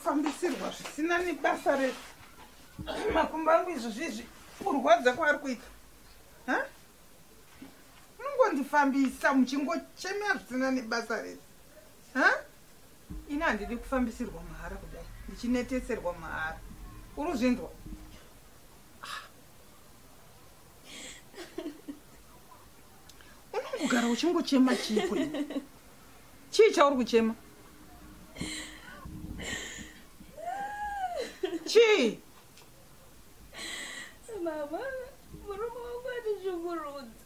fambisirwa zvisina nebasa re makumbo angu izvo zvizvi kurwadza kwaari kuita munongondifambisa muchingochemea zvisina nebasa rese ha ini handidi kufambisirwa mahara kudai ndichineteserwa mahara uri zvinzwa unongogara uchingochema chii kwe chii chauri kuchema chii mama murume wangu atishungurudza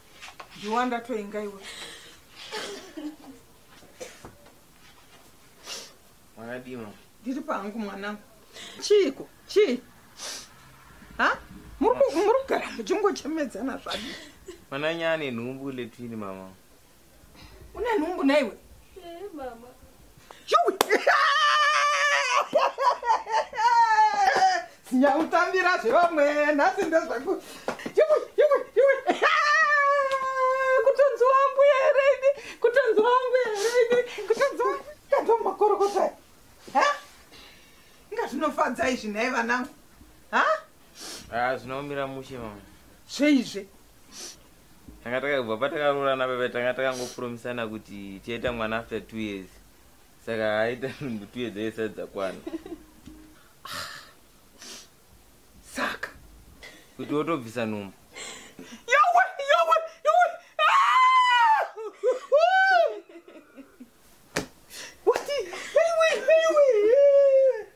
Juwa ndatoinga iwe. Mwana dima. Ndiri pangu mwana. Chiiko? Chi? Ha? Muri muri kugara muchingochemedzana zvadi. Mwana nyane nhumbu letwini mama. Une nhumbu naiwe? Eh, mama. Yowi. Sinyakutambira zvevamwe nhasi ndezvangu. Yowi, yowi, yowi. Kutonzi wangu here ini? Kutonzi wangu here ini? Kutonzi wangu. Kanzwa makorokota. Ha? Inga zvinofadza izvi nhai vanangu. Ha? Ah, zvinoomira mushe mama. Seizve. Tanga takabva patakaroorana baba tanga takangopromisana kuti tichaita mwana after 2 years. Saka aita nungu 2 years yese dzakwana. Saka kuti wotobvisa nhumbu. Yowe, yowe, yowe. Ah! Wati, anyway, anyway.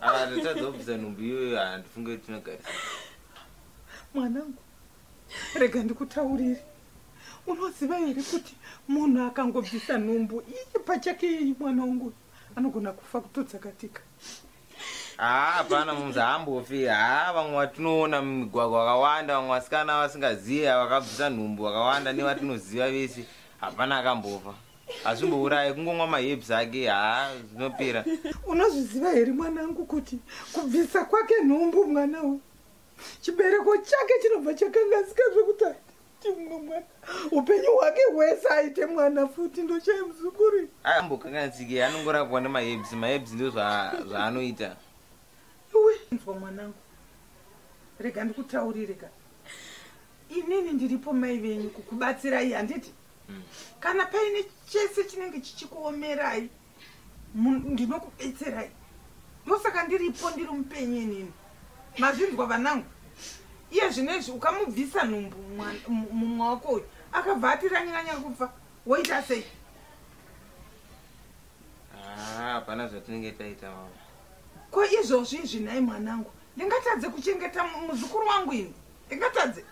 Ah, ndatadza kubvisa nhumbu iyoyo handifunge kuti tinogarisa mwanangu rega ndikutaurire unoziva here kuti munhu akangobvisa nhumbu iye pachake yeyi mwana wangu anogona kufa kutodzakatika haa ah, hapana mumzi haambofi haa ah, vamwe vatinoona mumigwagwa vakawanda vamwe vasikana vasingazive vakabvisa nhumbu vakawanda nevatinoziva vese hapana akambofa hazvimbouraye kungomwa maherbs ake haa zvinopera unozviziva here mwanangu kuti kubvisa kwake nhumbu mwana uyu chibereko chake chinobva chakangazika zvekuti aiti mumwe mwana upenyu hwake hwese aite mwana futi ndochai muzukuri ambokanganzike anongorapwa nemaherbs maherbs ndo zvaanoita nzwa mwanangu rega ndikutaurire ka inini ndiripo mai venyu kukubatsirai handiti mm. kana paine chese chinenge chichikuomerai ndinokubetserai ndosaka ndiripo ndiri mupenyu inini mazvinzwa vanangu iye zvino izvi ukamubvisa nhumbu mumwe wako uyu akabva atiranyanya kubva woita sei ah, hapana zvatinenge taita mama ko izvozvi izvi nhai mwanangu ndingatadze kuchengeta muzukuru wangu ini ndingatadze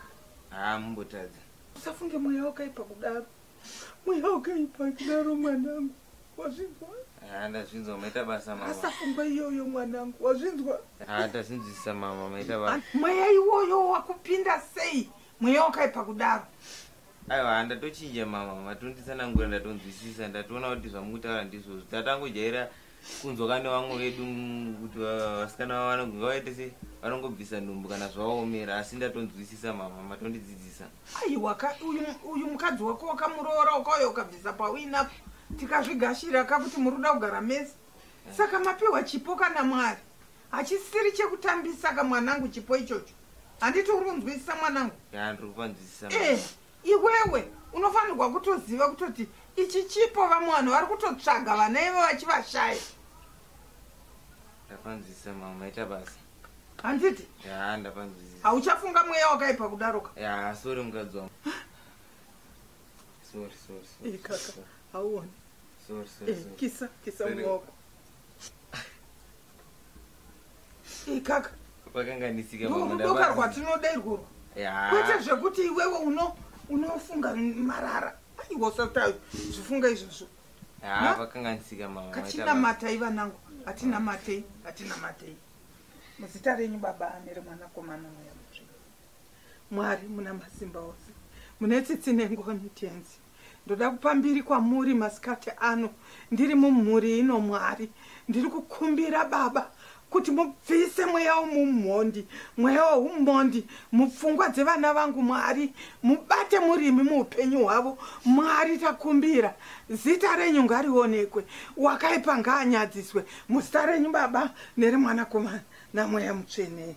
haa ah, mumbotadze usafunge mweya wakaipa kudaro mweya wakaipa kudaro mwanangu wazvinzwa ah, ndazvinzwa maita basa mama asafungwa iyoyo mwanangu wazvinzwa ah, ndazvinzwisisa mama maita basa ah, mweya iwoyo wakupinda sei mweya wakaipa kudaro aiwa ndatochinja mama matonditsanangura ndatonzwisisa ndatoona kuti zvamukutaura ndizvozvo tatangojaira kunzwa kane vamwe vedu kuti vasikana vavana kunge vaite se vanongobvisa nhumbu kana zvaomera asi ndatonzwisisa mama matondidzidzisa aiwa ka uyu mukadzi wako wakamuroora ukauya ukabvisa pawina tikazvigashira ka kuti muri kuda kugara mese eh. saka mapiwa chipo kana mwari hachisiri chekutambisa ka mwanangu chipo ichocho handiti uri kunzwisisa mwanangu handiri kupanzwisisa eh, iwewe unofanirwa kutoziva kutoti ichi chipo vamwe vanhu vari kutotsvaga vana ivo vachivashaya ndapanzwisisa mama maita basa handiti ya ndapanzwisisa hauchafunga mweya wakaipa kudaroka ya sori mukadzi wangu sori sori sori kaka hauoni kisa kisa mwaoko ikaka vakanganisika ndorudoka rwatinoda irworwo kwete zvekuti iwewe unofunga marara aiwa usata zvifunga izvozvo vakanganisika mama katina matai vanangu hatina matei hatina matei muzita renyu baba ane remwanakomana mweya mutsvina mwari muna masimba ose mune tsitsi nengoni tenzi Ndoda kupa mbiri kwamuri masikati ano ndiri mumhuri ino Mwari. Ndiri kukumbira Baba kuti mubvise mweya womumhondi, mweya wehumhondi mupfungwa dzevana vangu Mwari. Mubate murimi muupenyu hwavo Mwari takumbira. Zita renyu ngarionekwe, wakaipa ngaanyadziswe muzita renyu Baba nereMwanakomana namweya mutsvene.